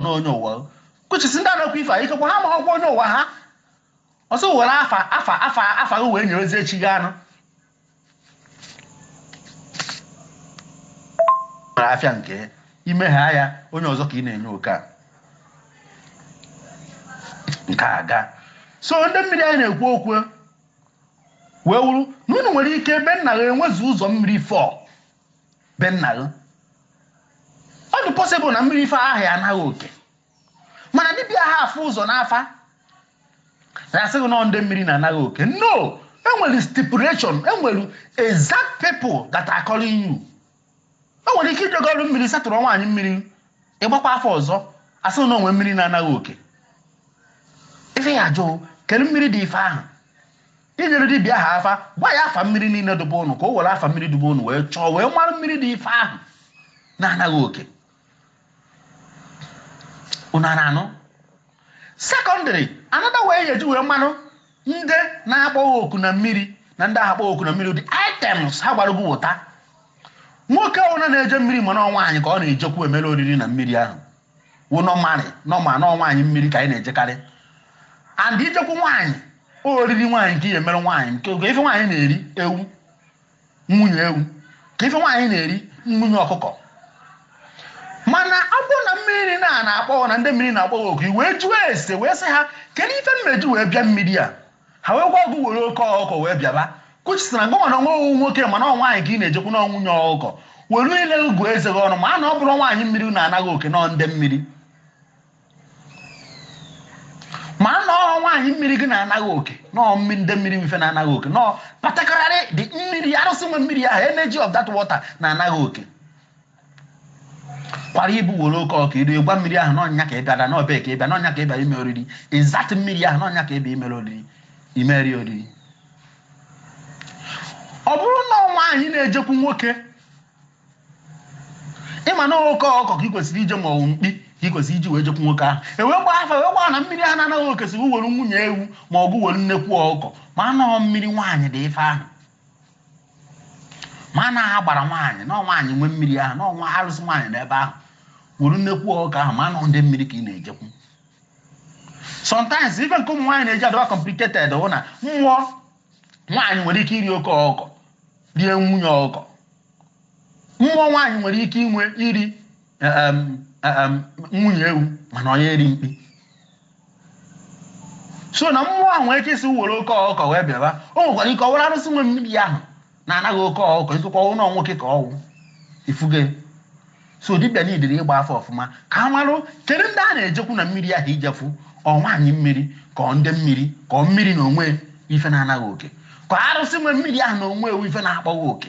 na onye ụwa which is ndị anakwa ife a ikekwa ha ma ọkwa onye ụwa ha ọsọ were afa gị wee nyerezi echi gị anụ nwere afịa nke ime ha ya onye ọzọ ka ị na-enye oke a nke a gaa so ndị mmiri anyị na-ekwu okwu wee wuru na unu nwere ike ebe nna gị enwezi ụzọ mmiri fọọ be nna gị ọ dị possible na mmiri ife ahụ ya ana gị oke mana dibịa ha afụ ụzọ n'afa na-asị gị na ọ ndị mmiri na-ana gị oke no enwere stipulation enwere exact people that are calling you o nwere ike ijegoro mmiri satụrụ nwaanyị mmiri ịgbakwa afa ọzọ asị na o nwe mmiri na-ana gị oke ife ya ajụ kedu mmiri dị ife ahụ I nyere dibịa ahụ afa, gwa ya afa mmiri niile dụ be ụnụ ka o were afa mmiri dụ be ụnụ wee chọọ wee mara mmiri dị ife ahụ na-ana gị oke ụnụ a na-anụ secondly another way ị ya eji wee marụ ndị na-akpọ gị oku na mmiri na ndị ahụ akpọ gị oku na mmiri ụdị items ha gwara gị weta nwoke ọbụla na-eje mmiri mana nwaanyị ka ọ na-ejekwu imere oriri na mmiri ahụ wụ normally normal na ọ nwaanyị mmiri ka anyị na-ejekarị and ijekwu nwaanyị oriri nwaanyị ka ị ya emere nwaanyị kee ife nwaanyị na-eri ewu nwunye ewu kee ife nwaanyị na-eri nwunye ọkụkọ mana ọ bụrụ na mmiri na na-akpọ gị na ndị mmiri na-akpọ gị oku wee jụọ ese wee sị ha kedu ife m eji wee bịa mmiri a ha wee gwa gị were oke ọkụkọ wee bịaba which is na gụnwa na onwe gị wụ nwoke mana ọ nwaanyị ka ị na-ejekwu na nwunye ọkụkọ were ile ugwu eze gị ọnụ ma a na ọ bụrụ nwaanyị mmiri na-ana gị oke na ọ ndị mmiri ma a na ọ nwaanyị mmiri gị na-ana gị oke na ọ mmi- ndị mmiri ife na-ana gị oke na ọ particularly the mmiri arụsị nwe mmiri ahụ energy of that water na-ana gị oke kwara ibu were oke ọkụkọ edo egwa mmiri ahụ na ọ nya ka ị bịara na ọ be ya ka ị bịa na ọ nya ka ị bịa ime oriri exact mmiri ahụ na ọ nya ka ị bịa imere oriri imeri oriri ọ bụrụ na nwaanyị na-ejekwu nwoke ị ma na oke ọkụkọ ka ị kwesịrị iji ma ọ wụ mkpi ka ị kwesịrị iji wee jekwu nwoke ahụ ewee gbaa afa ewee gbaa na mmiri a na-ana gị oke sị were nwunye ewu ma ọ bụ were nnekwu ọkụkọ ma a na ọ wụ mmiri nwaanyị dị ife ahụ ma a na afa gbara nwaanyị na nwaanyị nwe mmiri ahụ na o nwe arụsị nwaanyị n'ebe ahụ were nnekwu ọkụkọ ahụ ma a na ọ ndị mmiri ka ị na-ejekwu sometimes ife nke mmụọ nwaanyị na-eji adịwa complicated wụ na mmụọ nwaanyị nwere ike iri oke ọkụkọ rie nwunye ọkụkọ mmụọ nwaanyị nwere ike inwe iri nwunye ewu mana onye eri mkpi so na mmụọ ahụ nwere ike ịsị were oke ọkụkọ wee bịaba o nwekwara ike ọ wụrụ arụsị nwe mmiri ahụ na-ana gị oke ọkụkọ ikekwa ọ wụ na nwoke ka ọ wụ ị fụgo so dibịa needịrị ịgba afa ọfụma ka a marụ kedu ndị a na-ejekwu na mmiri ahụ ijefu ọ nwaanyị mmiri ka ọ ndị mmiri ka ọ mmiri na onwe ife na-ana gị oke ka arụsị nwe mmiri ahụ na onwe e wụ ife na-akpọ gị oku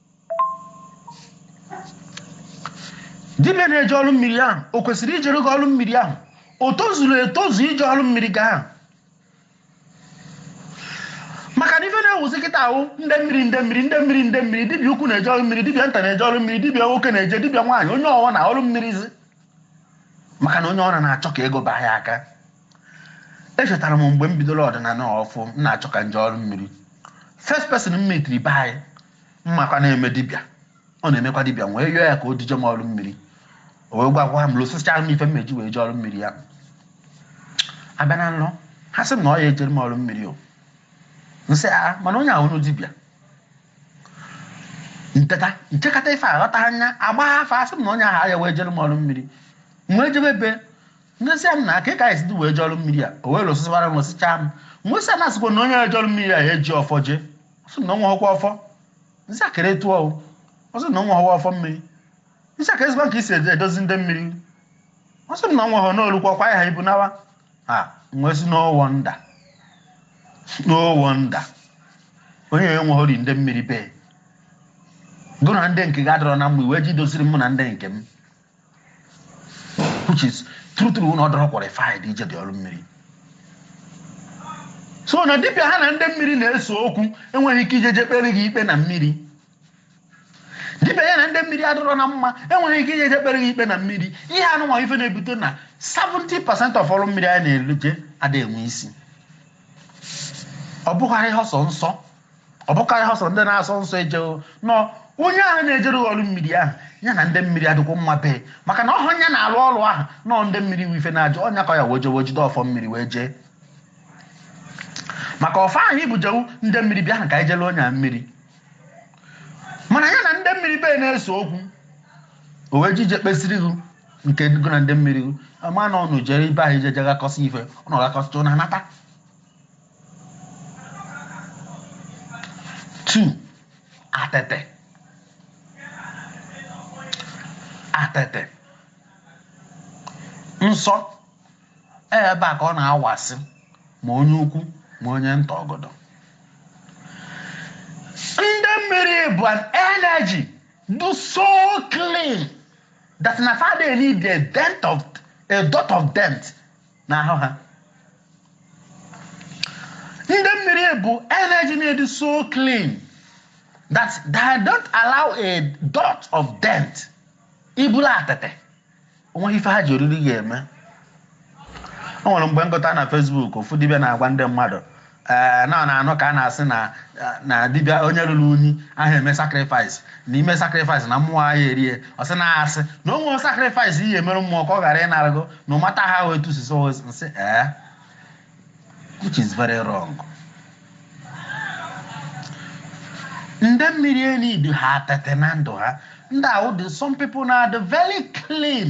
dibịa na-eje ọrụ mmiri ahụ o kwesịrị ijere gị ọrụ mmiri ahụ o tozuru etozu ije ọrụ mmiri gị ahụ maka na ife na-ewuzi kịta a wụ ndị mmiri ndị mmiri ndị mmiri ndị mmiri dibịa ukwu na-eje ọrụ mmiri dibịa nta na-eje ọrụ mmiri dibịa nwoke na-eje dibịa nwaanyị onye ọwụna ọrụ mmiri zi maka na onye ọwụla na-achọ ka ego baa ya aka echetara m mgbe m bidoro ọdịnala ọfụụ m na-achọ ka m jee ọrụ mmiri first person m meetiri be anyị m makwa na-eme dibịa ọ na-emekwa dibịa m wee yọọ ya ka o duje m ọrụ mmiri o wee gwagwa m listịchara m ife m ya eji wee jee ọrụ mmiri ya abịa na nlọ ha sị m na ọ ya ejere m ọrụ mmiri o m sị a mana onye ahụ dibịa m teta m chekata ife aghọta anya agba afa a sị m na onye ahụ ya wee jere m ọrụ mmiri m wee jebe ebe Nrịsịa nna aka ka anyị wee jee ọrụ mmiri a o wee listịsịara m listịchaa m wee sị ya na a sịkwa na onye ya eje ọrụ mmiri a ya eji ọfọ jee sị na ọnwa ọkwa ọfọ m sị akịrị tụọ o ọ sị na ọnwa ọwa ọfọ mmiri m sị a kedụzikwanụ ka i si edozi ndị mmiri ọ sị na ọnwa ọhọ n'olukwa kwa ha ibu nawa ha m wee sị no wonder no wonder onye enweghori ndị mmiri bee gụ na ndị nke gị adịrọ na mma i wee jee doziri mụ na ndị nke m which is true true na ọ dịrọ qualified ije dị ọrụ mmiri so na dibịa ha na ndị mmiri na-ese okwu enweghị ike ije je kpeere gị ikpe na mmiri dibịa ya na ndị mmiri adịrọ na mma enweghị ike ije je kpeere gị ikpe na mmiri ihe anụnwa ife na-ebute na 70% of ọrụ mmiri anyị na-eje ada enwe isi ọ bụghara ihe ọsọ nsọ ọ bụkwa ihe ọsọ ndị na-asọ nsọ eje o no onye ahụ na-ejere ọrụ mmiri ahụ ya na ndị mmiri adịkwa mma bee maka na ọ họ ya na-alụ ọrụ ahụ no ọ ndị mmiri wụ ife na-ajụ ọnya ka ya wee jewe jide ọfọ mmiri wee jee maka ọfọ ahụ i bu jebe ndị mmiri bịa ahụ ka anyị jere onye a mmiri mana ya na ndị mmiri bee na-ese okwu o wee je ije kpeziere gị nke gụ na ndị mmiri gị ama na ụnụ jere ebe ahụ ije je ghakọsị ife ụnụ ghakọsịcha ụnụ anata two atete atete nsọ e, ebe a ka ọ na-awasị ma onye ukwu ma onye nta ọgọdọ ndị mmiri bụ an energy dị so clean that na fa ada need a dent a dot of dent n'ahụ ha ndị mmiri bụ energy na-adị so clean that they don't allow a dot of dent i buru atịtị o nweghị ife ha ji oriri gị eme o nwere mgbe m gụta na Facebook ofu dibịa na-agwa ndị mmadụ ee na na-anụ ka a na-asị na na dibịa onye rụrụ unyi ahụ eme sacrifice na i mee sacrifice na mmụọ ahụ erie ọ sị na asị na o nweghị sacrifice ị ya-emere mmụọ ka ọ ghara ịnara gị no matter how ị tụsisi nsị ee which is very wrong ndị mmiri e-need ha atịtị na ndụ ha ndị ahụ dị some people na-adị very clean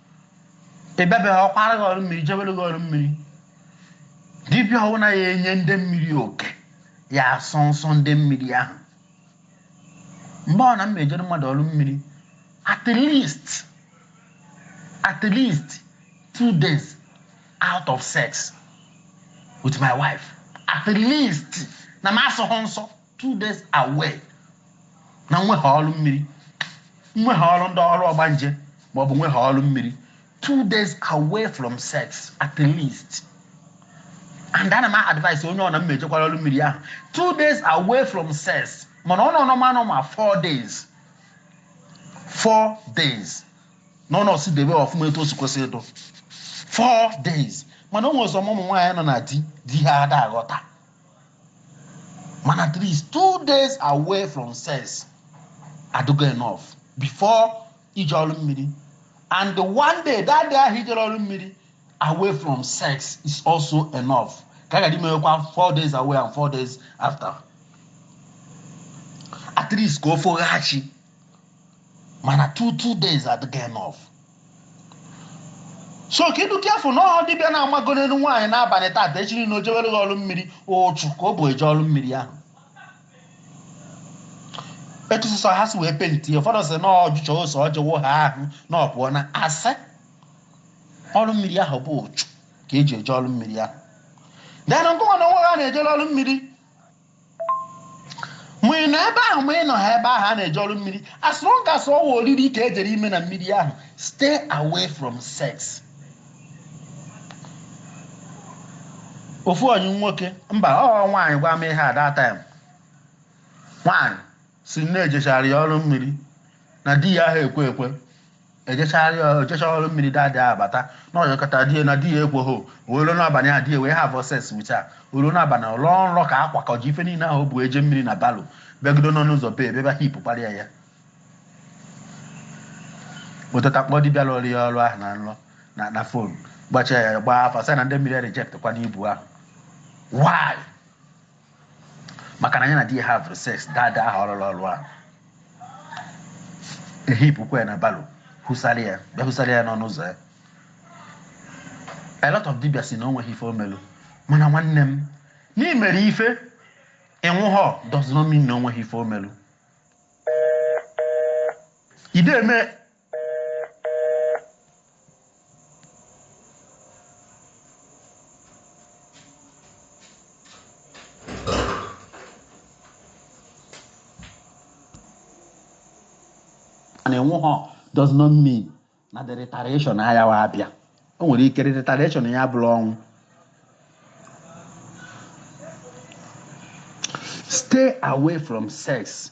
ị bịabeghị ọkwara gị ọrụ mmiri jebere gị ọrụ mmiri dibịa ọbụla ya-enye ndị mmiri oke ya-asọ nsọ ndị mmiri ahụ mgbe ọ na m ejere mmadụ ọrụ mmiri at least at least two days out of sex with my wife at least na m asọghọ nsọ two days away na nweghị ọrụ mmiri nweghị ọrụ ndị ọrụ ọgbanje maọbụ nweghị ọrụ mmiri two days away from sex at least and ana m advise onye ọ na m ejekwara ọrụ mmiri ahụ two days away from sex mana ọ nọ nọ manụ ma four days four days na ọ nọsi debe ọfụma etu o si kwesị ịdụ four days mana o nwere some ụmụ nwaanyị nọ na di di ha ada aghọta mana at least two days away from sex adịgo enough before ije ọrụ mmiri and the one day that day ahụ i jere ọrụ mmiri away from sex is also enough ka a ga imewekwa four days away and four days after at least ka o foghachi mana two two days adịgo enough so ka ị dụ careful na ọ họ dibịa na-amago n'elu nwaanyị n'abalị tata echi na o jewere gị ọrụ mmiri ụchụ ka o bu eje ọrụ mmiri ahụ etu sịsọ ha si wee penti ụfọdụ sị na ọ jụchaa ose ọjị ọ wụọ ahụ na ọ pụọ na asị ọrụ mmiri ahụ bụ ụchụ ka e ji eje ọrụ mmiri ahụ then ngịwa na onwe gị a na-ejere ọrụ mmiri ma ị nọ ebe ahụ ma ị nọha ebe ahụ a na-eje ọrụ mmiri as long as ọ wụ oriri ka e jere ime na mmiri ahụ stay away from sex ofu onye nwoke mba ọ nwaanyị gwa m ihe a that time nwaanyị si na e jechara ya ọrụ mmiri na di ya ahụ ekwe ekwe ejechara ya ejecha ọrụ mmiri that day ahụ bata na ọ yọkata di ya na di ya ekweghị wee ruo n'abalị ahụ di ya wee have sex with her o ruo n'abalị ọ lọọ nrọ ka a kwakọji ife niile ahụ o bu eje mmiri na barrow bịagido n'ọnụ ụzọ bee bịaba heap kparịa ya o teta kpọọ dibịa lụrụ ya ọrụ ahụ na nrọ na na phone gbachaa ya gbaa afa sị na ndị mmiri reject kwanụ ibu ahụ why maka na ya na di ya havụrụ sex that day ahụ ọ lụlụ ọlụ ahụ e heapụkwa ya na barrow hụsara ya bịa hụsara ya n'ọnụ ụzọ ya a lot of dibia si na o nweghị ife o melu mana nwanne m na i mere ife ị nwụhọ does not mean na o nweghị ife o melu ide eme na anwụhọ does not mean na the retaliation ayawa abịa o nwere ike retaliation ya bụrụ ọnwụ stay away from sex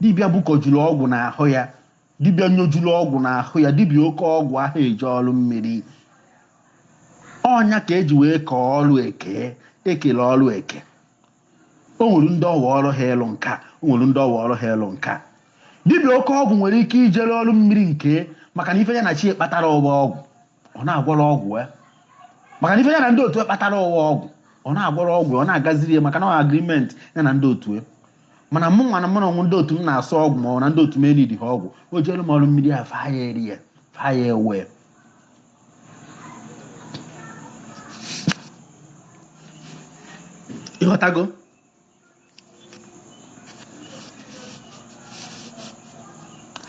dibịa gbukọjuru ọgwụ n'ahụ ya dibịa nyojuru ọgwụ n'ahụ ya dibịa oke ọgwụ aha eje ọrụ mmiri ọ nya ka e ji wee kee ọrụ eke e kele ọrụ eke o nwere ndị ọ wụ ọrụ ha ịlụ nka o nwere ndị ọ wụ ọrụ ha ịlụ nka dibịa oke ọgwụ nwere ike ijere ọrụ mmiri nke maka na ife ya na chi ya kpatara wụ ọgwụ ọ na-agwọrọ ọgwụ ya maka na ife ya na ndị otu kpatara wụ ọgwụ ọ na-agwọrọ ọgwụ ọ na-agaziri ya maka na agreement ya na ndị otu mana mụ nwa na mụ na ọnwụ ndị otu m na-asọ ọgwụ ma ọ na ndị otu m eneedịha ọgwụ o jeere m ọrụ mmiri fa aya eri ya fa aya ewe ị ghọtago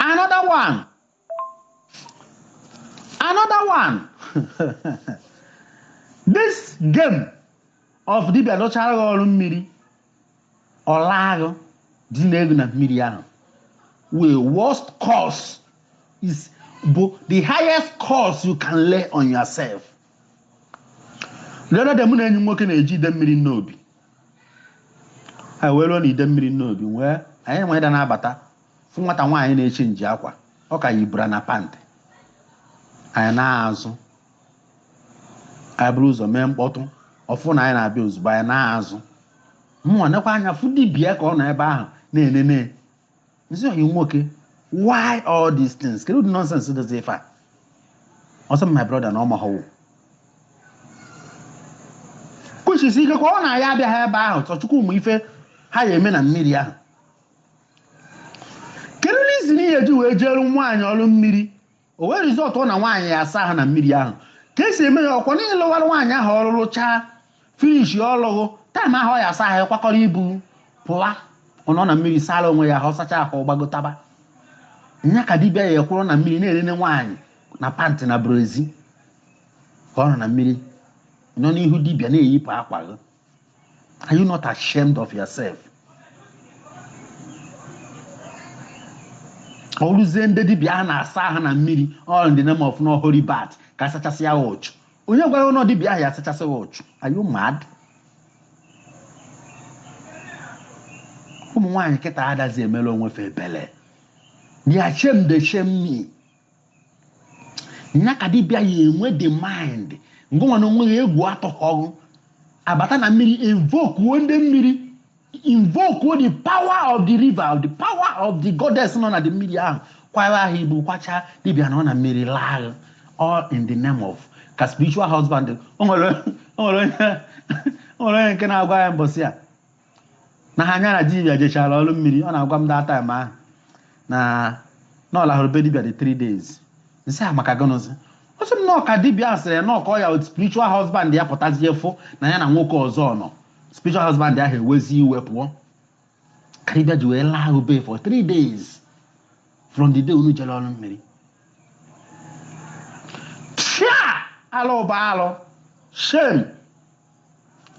another one Another one. This game of dibia dochara gị ọrụ mmiri ọ laa gị dine gị na mmiri ahụ wee worst curse is bụ the highest curse you can lay on yourself. The other day mụ na enyi nwoke na-eje Idemmiri Nnobi. Ha wee ruo na Idemmiri Nnobi wee anyị nweda na-abata fụ nwata nwaanyị na-echange akwa ọ ka yi bra na pant anyị naa azụ anyị buru ụzọ mee mkpọtụ ọ fụ na anyị na-abịa ozugbo anyị naa azụ mụnwa nekwa anya fụ dibia ka ọ nọ ebe ahụ na-enene m sị ọyị nwoke why all these things kedu ụdị nonsense dịzi ife a ọ sị my brother na ọ mahọ o kuchisi ike ka ọ na anyị abịaghị ebe ahụ sọ Chukwu ma ife ha ya eme na mmiri ahụ kedu reason ihe e ji wee jeere nwaanyị ọrụ mmiri o wee resultuo na nwaanyị ya asa ahụ na mmiri ahụ ka esi eme ya ọkwa na ị lụwara nwaanyị ahụ ọrụ rụchaa finish o lugo time ahụ ọ ya asa ahụ kwakọrọ ibu pụwa ọ nọ na mmiri sara onwe ya ahụ ọ sacha ahụ ọ gbagotaba nya ka dibịa ya ekwụrụ na mmiri na-enene nwaanyị na pant na brassiere ka ọ nọ na mmiri nọ n'ihu dibịa na-eyipụ akwa gị Are you not ashamed of yourself? o ruzie ndị dibịa a na-asa ahụ na mmiri all in the name of na holy bath ka a sachasị ya ụchụ onye gwara unu na dibịa ahụ ya asachasị ya ụchụ are you mad? ụmụ nwaanyị kịta adazi emere onwe fa ebele their shame dey shame me nya ka dibịa ya enwe the mind ngịnwa na onwe gị egwu atụghọ gị abata na mmiri invokuo ndị mmiri invokuo the power of the river the power of the goddess nọ na the mmiri ahụ kwara ha ibu kwacha dibịa nọ na mmiri laa all in the name of ka spiritual husband o nwere onye nke na-agwa ya mbọsị a na ha nya na dibia jechara ọrụ mmiri ọ na-agwa m that time ahụ na na ọ lahụrụ be dibia the 3 days m sị ya maka gịnịzi ọ sị m na ọ ka dibia a sịrị na ọ ka ọ ya spiritual husband ya pụtazie fụ na ya na nwoke ọzọ nọ spiritual husband ahụ ewezi iwe pụọ ka dibia ji wee laa gị be ya for 3 days from the day unu jere ọrụ mmiri chai alụ bụ alụ shame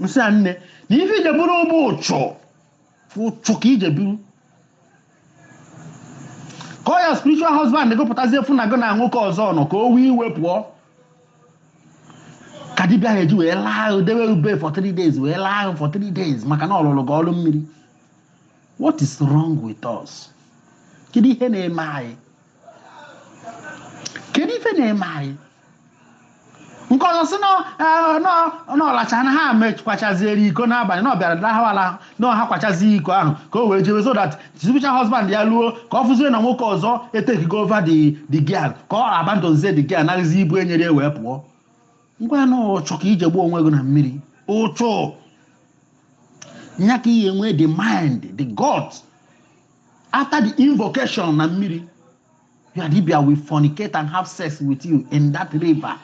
m sị ya nne na ife i je buru bụ ụchụ ụchụ ka i je buru ka ọ ya spiritual husband gị pụtazie fụ na gị na nwoke ọzọ nọ ka o wee iwe pụọ ka dibịa ahụ ji wee laa gị dewe gị be ya for three days wee laa gị for three days maka na ọ lụrụ gị ọrụ mmiri what is wrong with us kedu ihe na-eme anyị kedu ife na-eme anyị nke ọzọ sị na ọ lacha na ha mekwachaziere iko n'abalị na ọ bịara dahawala na ha kwachazi iko ahụ ka o wee jebe so that spiritual husband ya luo ka ọ fụzie na nwoke ọzọ etakego over the the girl ka ọ abandonzie the girl naghịzi ibu e nyere ya wee pụọ m gwa ya na ụchụ ka i je gbuo onwe gị na mmiri ụchụ nya ka ị ya-enwe the mind the guts after the invocation na mmiri your dibia will fornicate and have sex with you in that river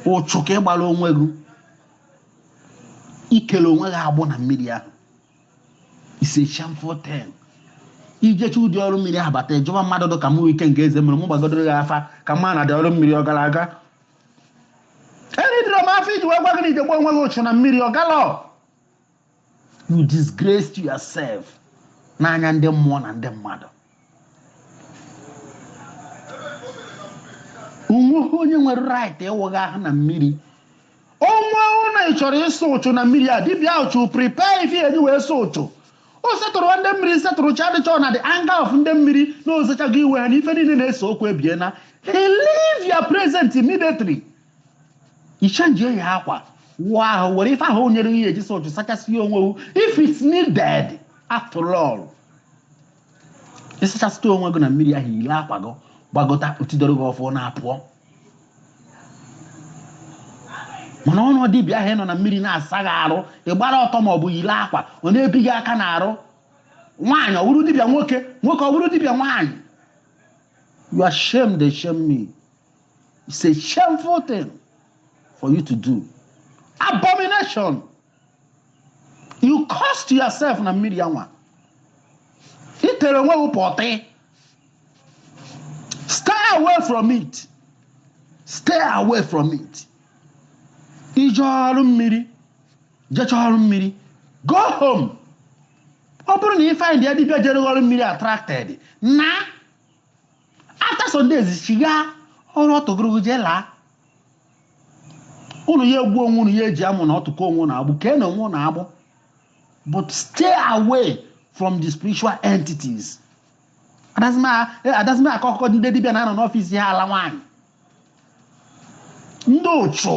ụchụ ka ị gbara onwe gị i kele onwe gị agbụ na mmiri ahụ it's a shameful thing i jecha ụdị ọrụ mmiri ahụ bata ị jụba mmadụ dị ka mụ ike nke eze mere mụ gbagodoro gị afa ka m ma na ụdị ọrụ mmiri ọ gara aga eneedirọ m afa iji wee gwa gị na i je gbuo onwe gị ụchụ na mmiri ọ galọ you disgraced yourself n'anya ndị mmụọ na ndị mmadụ o nweghị onye nwere right ịwụ gị ahụ na mmiri ọ wụrụ na ị chọrọ ịsa uchu na mmiri a dibịa should prepare ife e ji wee sa uchu o settle ndị mmiri settle chi a dị sure na the anger of ndị mmiri na ozechago iwe ha na ife niile na-ese okwu ebiena he leave your presence immediately ị chenjie akwa wụọ ahụ were ife ahụ nyere ihe e ji sa uchu sachasịa onwe if it's needed after all ị sachasịa onwe gị na mmiri ahụ yile akwa gị gbagota o tidoro gị ọfọ na-apụọ mana ọnụ dibịa ahụ nọ na mmiri na-asa gị arụ ị gbara ọtọ ma ọ bụ yile akwa ọ na-ebi gị aka n'arụ nwaanyị ọ bụrụ dibịa nwoke nwoke ọ bụrụ dibịa nwaanyị your shame dey shame me It's a shameful thing for you to do. Abomination. You cursed yourself na mmiri anwa. Ị tere onwe gị pọtị. Stay away from it. Stay away from it. Ị je ọrụ mmiri. Jecha ọrụ mmiri. Go home. ọ bụrụ na ị find ya dibịa jere ọrụ mmiri attracted na after some days ị gaa ọrụ ọtụ gụrụ gị jee laa unu ya egbu onwe unu ya eji amụ na ọtụ kee onwe unu agbụ kee onwe unu agbụ but stay away from the spiritual entities adazi m akọ akụkọ ndị dibịa na-anọ n'ọfịs ha ala nwaanyị ndị uchu